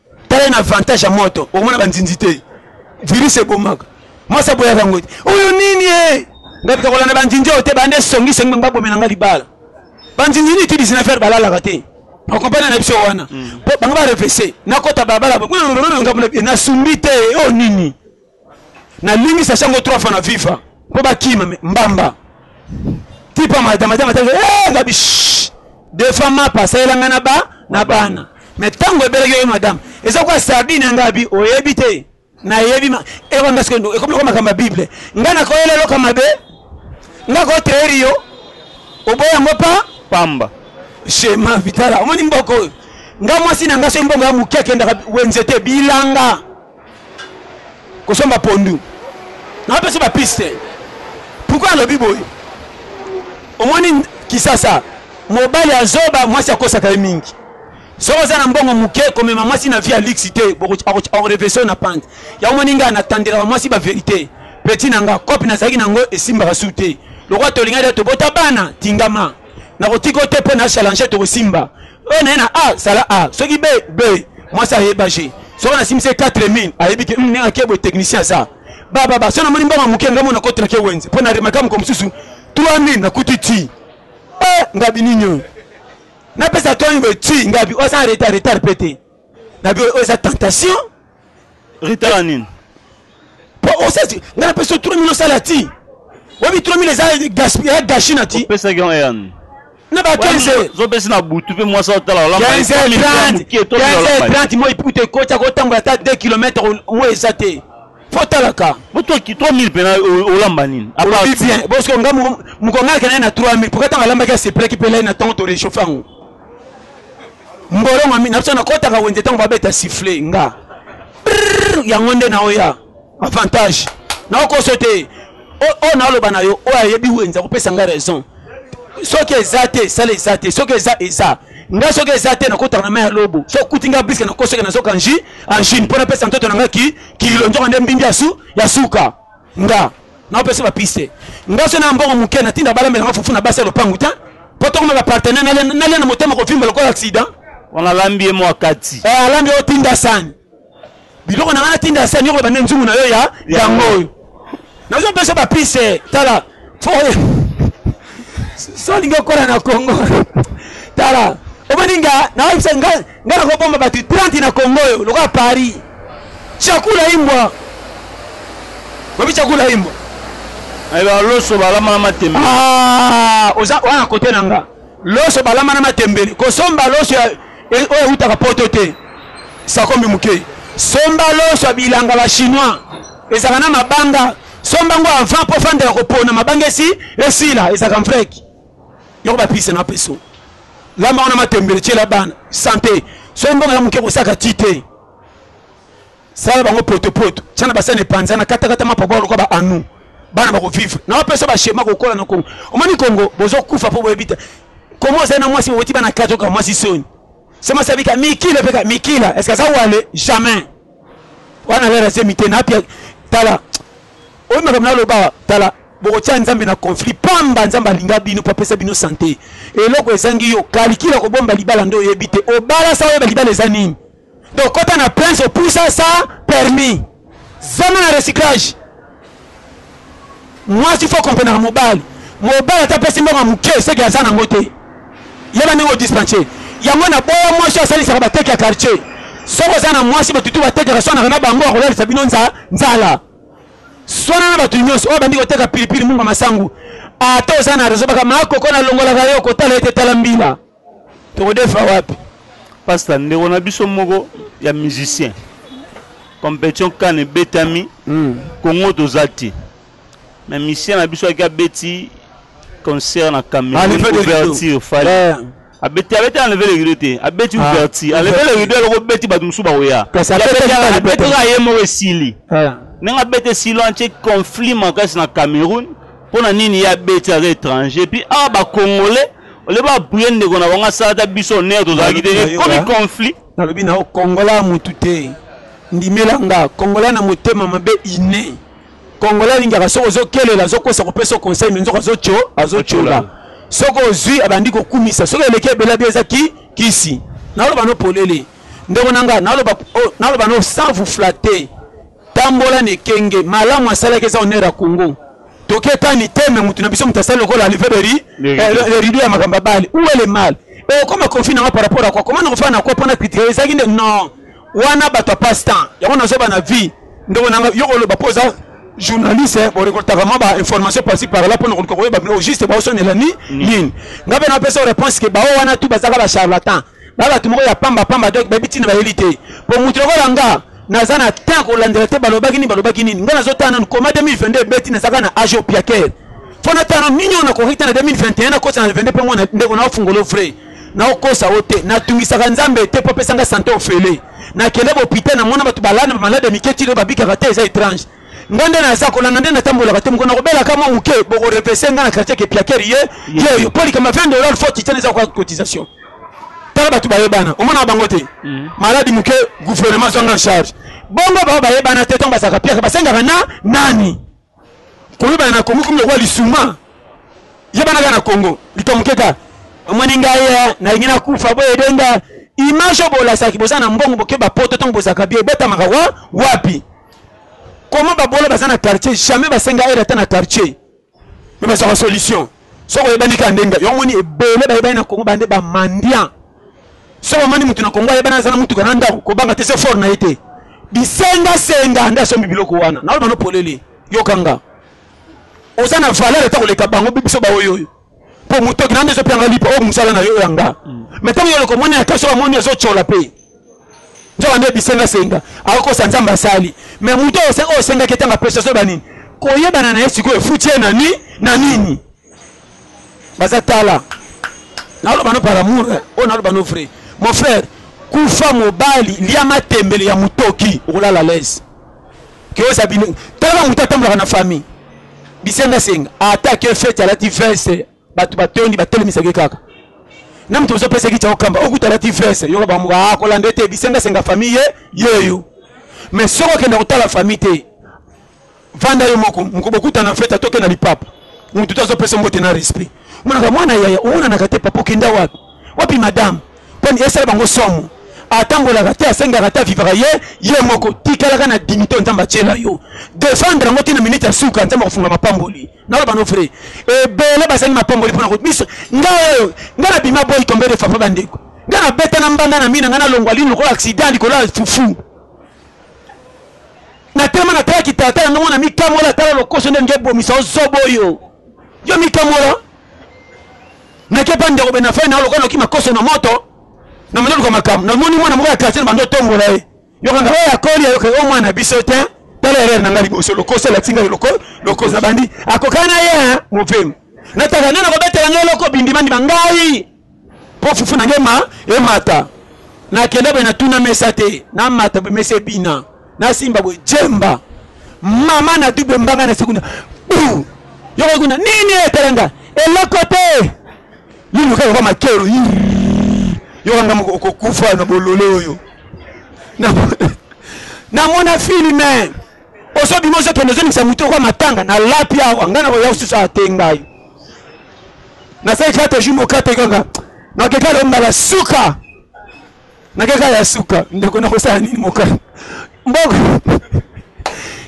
tala na avantage ya moto okomona banzinzi te virus ebomaka mwasi aboyaka yango te oyo nini e ngai pita kolanda banzinzi oyo te bande songisongi bango babomela ngai libala banzinzi nini ti 19 heure balalaka te okompane na biso wana po bango barefese nakota balabala ngambo nasumbi te oyo nini Na limbisa shango trois fois na viva po ba kima me mbamba. Tipa madama madama tanga eh ngabi shh. Deux fois ma pasa elanga na ba na bana. Mais tango ebelaki yo madame eza kwa sardine ngabi oyebi te. Na yebi ma eko parce que eko ko makamba bible. Ngana ko elelo ka mabe. Ngako teori yo. Oboya ngo pa pamba. Shema vitala omoni mboko oyo. Nga mwasi na nga so mbongo ya muke akendaka wenze te bilanga. kosomba pondu na pesa ba piste pourquoi alobi boye omoni kisasa mobali ya zoba mwasi akosaka ye mingi soki oza na mbongo moke komema mwasi na vie ya luxe te orevesio na pante yango moni ngai natandelaka mwasi baverité peti na nga kope nazalaki na yango esimbaka su te lokola tolingaki tobota bana tingama nakotika yo te mpo na challenge tokosimba oyo naye na a sala a soki be be mwasi ayeba je soki nasimisi 4000 ayebi ke ndenge ake boye technicien aza bababa so namoni mbongo moke ngambo nakoti nake wenze mpo na remaka moko mosusu 3000 nakuti ti eh, ngabi nini oyo napesa toni boye ti ngabi oza retard retard mpe te nabi oyo eza tentation retard nini po osasi ngana pesa 3000 osala ti wabi 3000 eza gaspillage gashi na ti pesa ki yan na ba 15 zo pesa na butu pe mwasa otala wala 15 30 30 moi puto ekota ko tambola ta 2 km moi eza te fo talaka bo to ki 3000 pena olamba nini apa bien parce que nga mukongala kana na 3000 pourquoi tanga lamba ka sepela ki pela na temps to réchauffer mbolongo ami na biso nakotaka wenze ntango babeta siffle nga yango nde naoya avantage naokoso te oyo naoloba na yo oyo ayebi wenze akopesa ngai raison soki eza te sala eza te soki eza eza nga soki eza te nakotaka na mai ya lobo soki okuti nga biske nakosoki nazoka nji angine mpo napesa ntoto na ngai ki kililo nzoka nde mbindi ya suka Nga na opesa ba piste nga so na mbongo muke na tinda bala mbela fufu na basi ya lopangu ta po toko maba partenaire na na lena motema ko vimba lokola accident wana lambi mo akati eh alambi o tinda sani biloko na ngana tinda sani yoko bande nzungu na yo ya yango oyo na zo pesa ba piste tala solinga okola na congo tala omoni nga naoyebisa nga nga nakobomba bato 30 na congo oyo lokola paris chakula imbwa oyebi chakula imbwa ayeba loso balama na matembe ah, oza wana kote na nga loso balama na matembele kosomba loso e, oyo eutaka poto te sakombi moke somba loso ya bilanga ba chinois ezalaka na mabanga Somba ngo avant po fanda ya kopona mabanga esi esila ezaka mfreki. Yoko ba pise na peso. Lamba wana matembele chela bana santé. Somba ngo muke kosaka tite. Sala bango poto poto. Chana basane panza na kata kata mapoko ko ba anu. Bana bako vivre. Na wapesa ba shema ko kola na Kongo. Omani Kongo bozo kufa po boyebita. Kongo ozali na mwasi oweti bana kato ka mwasi soni. Sema sabika mikile peka mikila. Est-ce que ça wale jamais. wana lara zemi te na apia tala oyo makambo naloba tala bokotya nzambe na conflit pamba nzambe alinga bino mpo apesa bino sante eloko ezangi yo kalikila kobomba libala nde oyebi te obala sa oyeba libala eza nini donc kota na prince opusa sa permis zama na recyclage Mwasi faut comprenaka mobali. Mobali ata pesi mbongo ya muke seke aza nango te. Yeba ndenge o dispense. Yango na boya mwasi asalisaka bateki ya quartier. Soki oza na mwasi batutu batekaka swanaka na bango akolalisa bino nza nzala. Swana na batu nyonso oyo bandi koteka pilipili munga masangu. Ata oza na rezo baka ma koko na longolaka yo kotala ete tala mbila. Tokodefa wapi? Pasta ndeko na biso moko ya musicien competition kan ebetami mm. Congo toza te mais musicien na biso aki abeti concert na Cameroun ouverture fali yeah. abeti abeti enleve le rideau te abeti ah. ouverture enleve le rideau aloko beti bato mosusu bakoya abetaka ye moko esili ndenge abeti esili wana tie conflit makasi na Cameroun mpo na nini ye abeti aza étranger puis awa ah, bacongolais ole ba appuye ndeko na bango asala ata biso honneur tozalaki te ekomi conflit nalobi na yo kongola ya motu te ndimela nga kongola na motema mabe ine kongola alingaka soki ozokelela azokosa kopesa conseil me nzoka azotyola soki ozwi abandi kokumisa soki eleki ebela bi eza ki kisi naloba no polele ndeko na nga naloba oh, no sans vous flatter Tambola na ekenge malamu asalaki eza honneur ya Congo. Toke ta mitema mutu na biso mutu asali lokola live de riz le rideau ya makambo abali où est le mal et okoma conflit na nga par rapport à quoi comment nakofana na quoi pona critique ezaki nde non wana bato ya passe temps yango nazoba na vie ndeko nanga yo koloba mpo oza journaliste eh, borekoltaka mwa bainformation pasi par là mpo na koluka koyeba bino juste baosonela ni nini ngai mpe napesa réponse ke bao wana tu bazalaka bacharlatan ba bato moko ya pamba pamba donc bayebi ntina bayeli te mpo moto lokola nga naza na temps kolandela te balobaki nini balobaki nini nga nazotala nanu koma 2022 ebeti nazaka na age opiaker mpo natala nanu nini oyo nakoki te na 2021 nakosa na 22 mpe mwana ndeko naofungolo vrai naokosa o te natungisaka nzambe te mpo apesanga sante ofele nakende bopital namona bato balana bamalade mike tilo babikaka te eza étrange nga nde naza kolanda nde natambolaka te mokona kobela ka mwa moke bokorepese nga na quartier kepiaker ye ye oyo mpo likamba 20 dollar fo titan eza koka cotisation tala bato bayebana omonaka bango te mm. maladi moke gouvernement azwanga charge bongo bao bayebana te ntango bazalaka piaka basengaka na nani koyebana na kongo komi lokola lisuma yebanaka na kongo lito moke ka omoni ngai eh, nalingi nakufa boye edenga image oyo bolasaki boza na mbongo bokeba poto ntango bozalaka bie ebotamaka wa wapi comment babola baza na quartier jamais basenga aide ata na quartier me bazwaka solution soki oyebani kaka ndenge yo omoni ebele bayebani na kongo bande bamandian soki omoni motu na kongo ayebani aza na motuka na ndako kobanga te se fort na ye te bisengasenga nde asombi biloko wana naoyo banopolele yokanga oza na valeur ata koleka bango biso baoyoyo po mutoki nani ezo pianga lipa o musala na yo yanga mais tango yo loko mwana ya kaso amoni ezo chola pe nzoka nde bisenga senga akokosa nzambe asali mais mutu oyo osengaki etanga pesa soba nini koyebana na ye sikoyo efuti ye na nini na nini baza tala naloba no par amour eh. oyo naloba no vrai mon frère kufa mobali lia matembele ya mutoki okolala lese que oza bino tala mutu atambolaka na famille bisenga senga ata que fete alati veste bato batondi batelemisaki kaka na moto ozopesaki cao kamba okuta alati veste yoka bango akolanda ah, ete bisenga senga famille ye yeyo mais soki okenda kotala famille te vanda yo moko mokobokutana fete atoke na lipapa motu te azopesa mbote na respect monaka mwana yaya omonanaka te papa okenda wapi wapi madame poni esala bango somo atambolaka te asengaka te avivaka ye ye moko tikalaka na dimite oyo nzambe atyela yo defendre yango ti na minute ya suka nzambe akofunga mapamboli naloba no vrai ebele bazangi mapamboli mpona biso nga oyo nga na bima boyi tombe defafa bandeko nga na beta na mbanda na mina nga nalongwa lini lokola accident likolo ya fufu natelema natalaki tata yango mona mikamola tala lokoso nde ngebomisa ozoba oyo yo mikambola nakepa ndeko bena fai nao lokola noki makoso na moto na manoluka makambo namoni mwana moko ya quartier na bando otombola ye yokanga oyo akoli ayoka o mwana biso te tala erreur na ngai liboso lokoso elati ngai lokoso na bandi akokana ye mopemi nataka nde nakobetela ngai eloko bindimandima ngai po fufu na ngai emata nakenda boye natuna mesa te namata boye mesa ebina nasimba boye jemba mama na dube mbanga na sekunda yoko kuna nini etalanga eloko te liluka yoko makero yokanga okokufa na bolole oyo namona filme ozo bima ozo kende ozongisa moto yoko matanga na lapi awa ngai nakoya kosusu awa te ngai nasali kate jour mokate kaka nakeka lo mbala suka nakeka ya suka ndeko nakosala nini moka mboko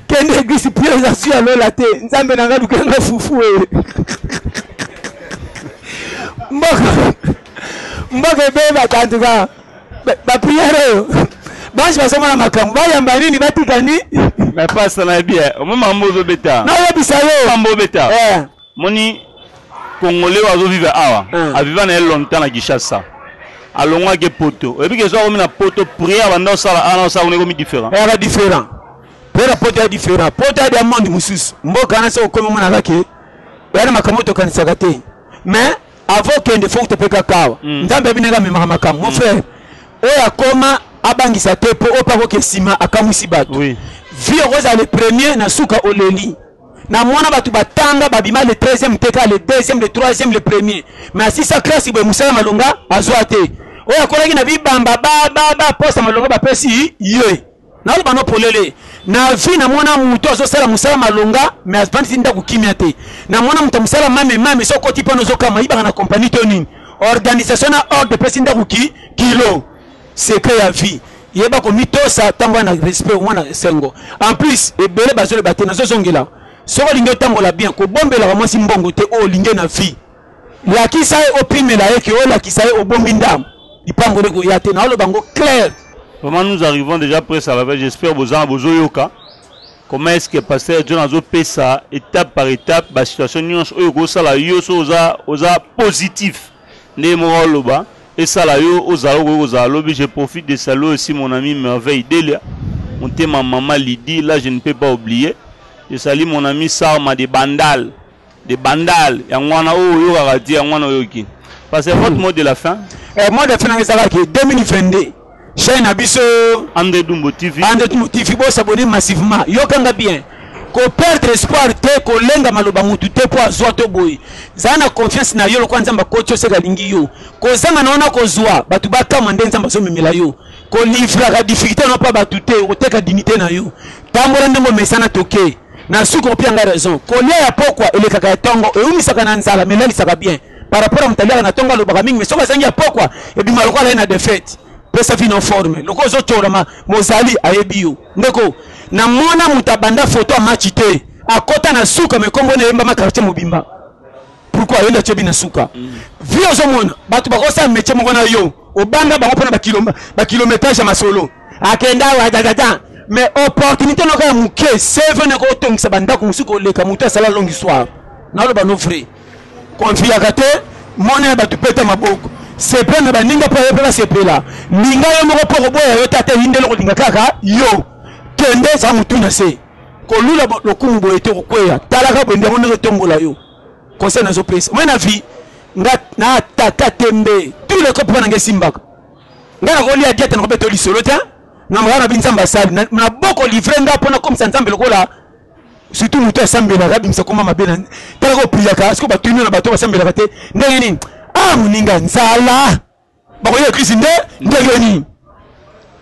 kende eglise pio eza su ya lola te nzambe na ngai lukela ngai fufu e mboko mboko ebebaka antuka ba prière oyo banso bazomona makambo bayamba nini batika ni mais pasta na yebi eh, omoni makambo ozobeta nayebisa yo makambo obeta eh. moni congolais oyo azovivre awa eh. aviva na ye longtemps na kinshasa alongwaki epoto oyebi kezo akomi na poto prière banda osala ana osala kuna ekomi différent eka différent mpo na poto ya différent poto ya diamond mosusu mboka wana soki okomi omona kake oya na makambo tokanisaka te mais Avant kende faut topeka kawa. Mm. Nzambe abinaka amemaka makambo. Mon mm. frère, oyo akoma abangisa te mpo oyo mpe akoke nsima akamwisi bato. Oui. Vie okozala le premier na suka oleli. na mwana bato batanga babima le 13e te kaka le 2e le 3e le premier me asisa klasi boye mosala malonga azwa te oyo akolaki na bibamba bababa posa malonga bapesi ye Naloba no polele, na vie na mona mutu azo sala musala malonga mais avandi ti ndaku kimia te. Na mona mutu musala mame mame so koti pano zo kama ibaka na compagnie to nini. Organisation na ordre pesi ndaku ki kilo. Secret ya vie. Yeba ko mitosa tango na respect au na sengo. En plus, ebele bazo le bate na zo zongela. Soko lingi otambola bien, ko bombela ka mwasi mbongo te o lingi na vie. lakisa ye opimela ye ke olakisa ye obombi ndambo lipango nde koya te naoloba yango claire vraiment nous arrivons déjà presque à la veille j'espère bozanga bozoyoka comment est ce que pasteur john azopesa étape par étape basituation nyonso oyo ekosala yo so oza, oza positif nde moko aloba esala yo ozala okoki kozala lobi je profite de saluer aussi mon ami merveille delia motema mama lidi là je ne peux pas oublier je sali mon ami sarma de bandal de bandal yango wana oyo oyokaka ti yango wana oyoki parce que votre hmm. mot de la fin eh, mot de la fin nanga ezalaka ke 2022 chaine na biso ande dumbo tv ande dumbo tv bosabone massivement yokanga bien koperdre espoir te kolenga maloba motu te mpo azwa to boye zala na confiance na yo lokola nzambe akoti oseka alingi yo kozanga na wana kozwa bato bakama nde nzambe azomemela yo kolivraka difficulté na mpo bato te okoteka dignité na yo tambola ndenge omesana toke Na suka opia nga raison. Kolia ya pokwa elekaka ya tongo, eumisaka na nzala mais elalisaka bien. Par rapport ya moto aliaka na tongo alobaka mingi mais soki azangi ya pokwa ebima lokola aye na defaite. Pesa vino forme. Lokola ozo tshola ma mozali ayebi yo. Ndeko, na mona moto abanda photo ya match te. Akota na suka mais kombo na ye eyembama quartier mobimba. pourquoi yende atyebi na suka vi ozomona bato bakosala metie moko na yo obanga bango mpona bakilometrage ya masolo akenda awa dadada mais opportunité noko ya moke cv noko otongisa bandako mosusu koleka moto asala longue histoire naloba no vrai konfiyaka te mona ya bato peta maboko sepela na baninga mpo yo mpe basepela linga yo moko mpo okoboya yo te ata eyindeli okolinga kaka yo kende za motu na se kolula lokumu boye te okokweya talaka bwendi yango ndenge etombola yo conseil nazopesa moi na vie nga na ataka tembe tout le cope wana nga esimbaka nga nakolia diete nakobeta yo lisolo te na makaa na bi nzambe asali na boko livre nga mpo nakomisa nzambe lokola surtout moto asambelaka abimisa koma mabe na talaka opriyaka siko batuni na bato basambelaka te ndenge nini ah moninga nzala bakoya eglise nde ndenge nini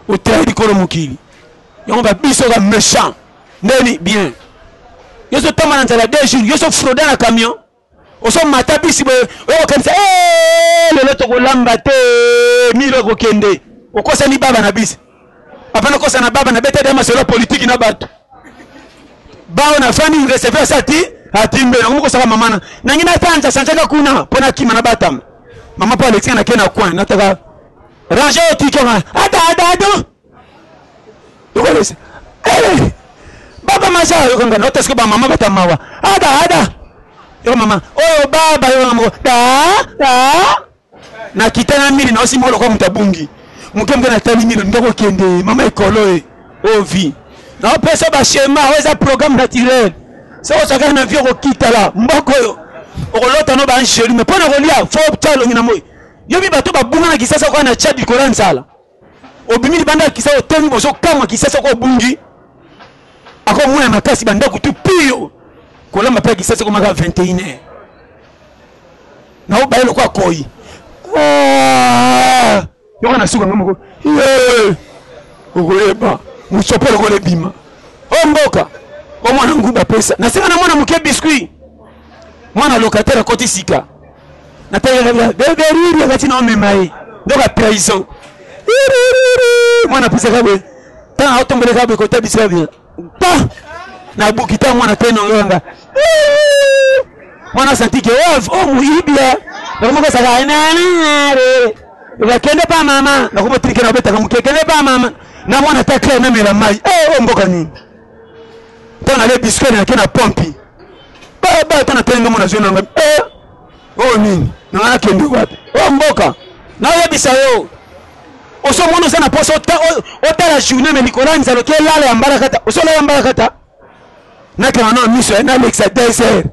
oteya likolo mokili yango ba biso ba méchant ndeni bien yo ozotamba na nzala deux jours yo ozofroda na camion ozomata bisi boye oyo kokanisa lelo tokolamba te milo ekokende okosani baba na bisi Papa na kosa na baba na beta dama solo politique na bato. Bao na famille receveur sa ti atimbe na ko sala mama na. Nangi na tanja sanjaka kuna pona kima na batama. Mama pa Alexia na kena coin na taka. Ranger ti kama. Ada ada ada. Tukolese. Eh. Baba maja yo kanga na tasko ba mama batama wa. Ada ada. Yo mama. Oh baba yo mama. Da da. Nakita na mire naosi moko lokola moto abungi moke moke, natali mire ndenge okende mama ekolo e o oh, vie naopesa ba schema oyo eza programme naturel soki osakaki na vie okokitala mboko oyo okolota no baangelu me mpo na kolia fo tya elongi na moi yobi bato babunga na kisasa okoya na tya likolo ya nzala obimi libanda ya kisasa otomi bozokamwa kisasa ko obungi akomona makasi bandako tu pio kolamba mpe ya kisasa komaka 21 heure nao baye lokola koi ah! yoko na suka nga moko okoyeba mosopo lokola ebima o oh, mboka omwana nguba pesa nasenga na mwana moke biskuit mwana locataire akoti sika nategeaeberiri akati na omema ye ndoka trahison mwana pisaka boye ntango aotomboleka boye kota bisika boye pa nabuki ntango mwana te nongonga mwana santike o oh, moyibia nakomoko saka nanare bakende pa mama nakomotirike na obetaka moke kende pa mama na mwana ta claire namela mai o oh, oh, mboka nini mpo nale disque nayaki na pompi baba ata natali ndenge nazwi nanga eh, oyo oh, nini nanga nakende wapi oyo oh, mboka nayebisa yo osomona oza na poso otala journée me likolo ya nzalo kelala ya mbalakata osolala ya mbalakata nakanga na miso ya nalekisa desert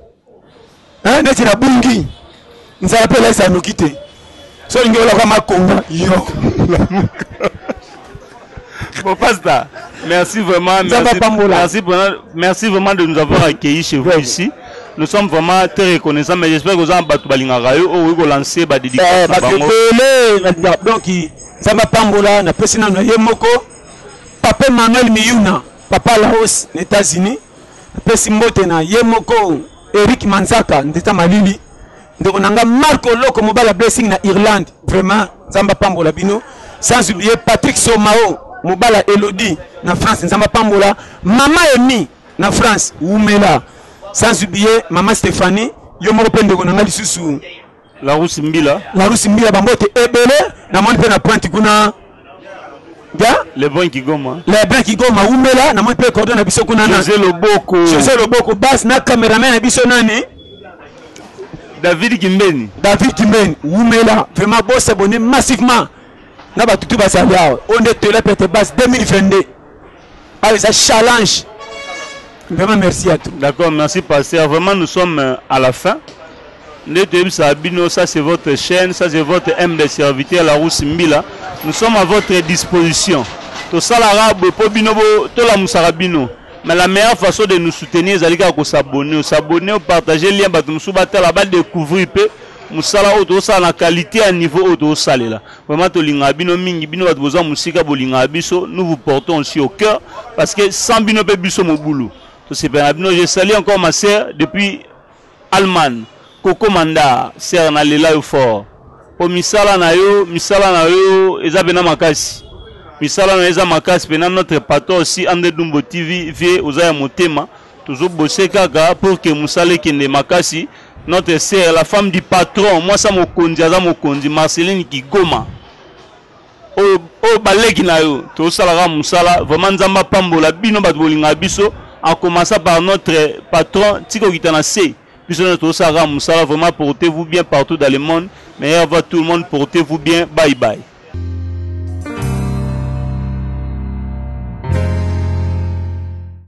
hein neti na bungi nzala pe laisa noki te so olingi olaka makonga yo bon pasta merci vraiment merci, merci, merci vraiment de nous avoir accueillis chez vous ici nous sommes vraiment très reconnaissants mais j'espère que ozana bato balingaka yo oyo okoki kolancer badidikabele donc nzambe apambola napesi nano ye moko pape manuel miyuna Papa Laos na Etats Unis napesi mbote na ye moko Eric Manzaka ndeta malili ndeko na nga Marco Loko mobali ya Blessing na Irlande vraiment Nzambe apambola bino sans oublier Patrick Somao mobali ya Elodie na France Nzambe apambola mama Emi na France wumela sans oublier mama Stephanie yo moko mpe ndeko na nga lisusu Larousse Mbila. Larousse Mbila bambote ebele na moni pe na pointe kuna. Ya? Le bon Kigoma. Le bon Kigoma umela na moni pe cordo na biso kuna na. José Loboko. José Loboko bas na cameraman na biso nani? David Kimbeni. David Kimbeni umela vraiment bo s'abonner massivement na batutu bazali awa. Onde tele pete bas 2022. awa eza challenge vraiment merci à tout d'accord merci pasteur vraiment nous sommes euh, à la fin nde toyebisaka bino ça c'est votre chaîne ça c'est votre aime de serviteur la rousse mbila nous sommes à votre disposition tosalaka boye mpo bino tolamusaka bino mais la meilleure façon de nous soutenir ezali kaka kosabonne osabonne opartage lien bato mosusu batala badécouvrir mpe mosala oyo tozosala na qualité ya niveau oyo tozosalela Vraiment tolingaka bino mingi, bino bato boza mosika bolingaka biso, nous vous portons aussi au cœur parce que sans bino pe biso mobulu. Tosepela na bino. Je salue encore ma sœur depuis Allemagne, Coco Manda, sœur na lela yo fort. Po misala na yo, misala na yo eza pena makasi. Misala na yo eza makasi pena notre patron aussi André Dumbo TV, vie oza ya motema. Tozo bosser kaka pour que musala ekende makasi. Notre sœur, la femme du patron, mwasi ya mokonzi aza mokonzi, Marceline Kigoma. Oyo oyo baleki na yo, tozosala kaka musala. Vraiment Nzambe apambola bino bato bolingaka biso en commençant par notre patron tika okita na se. Biso nde tozosala kaka musala. Vraiment portez-vous bien partout dans le monde. Meilleur va tout le monde, portez-vous bien. Bye bye.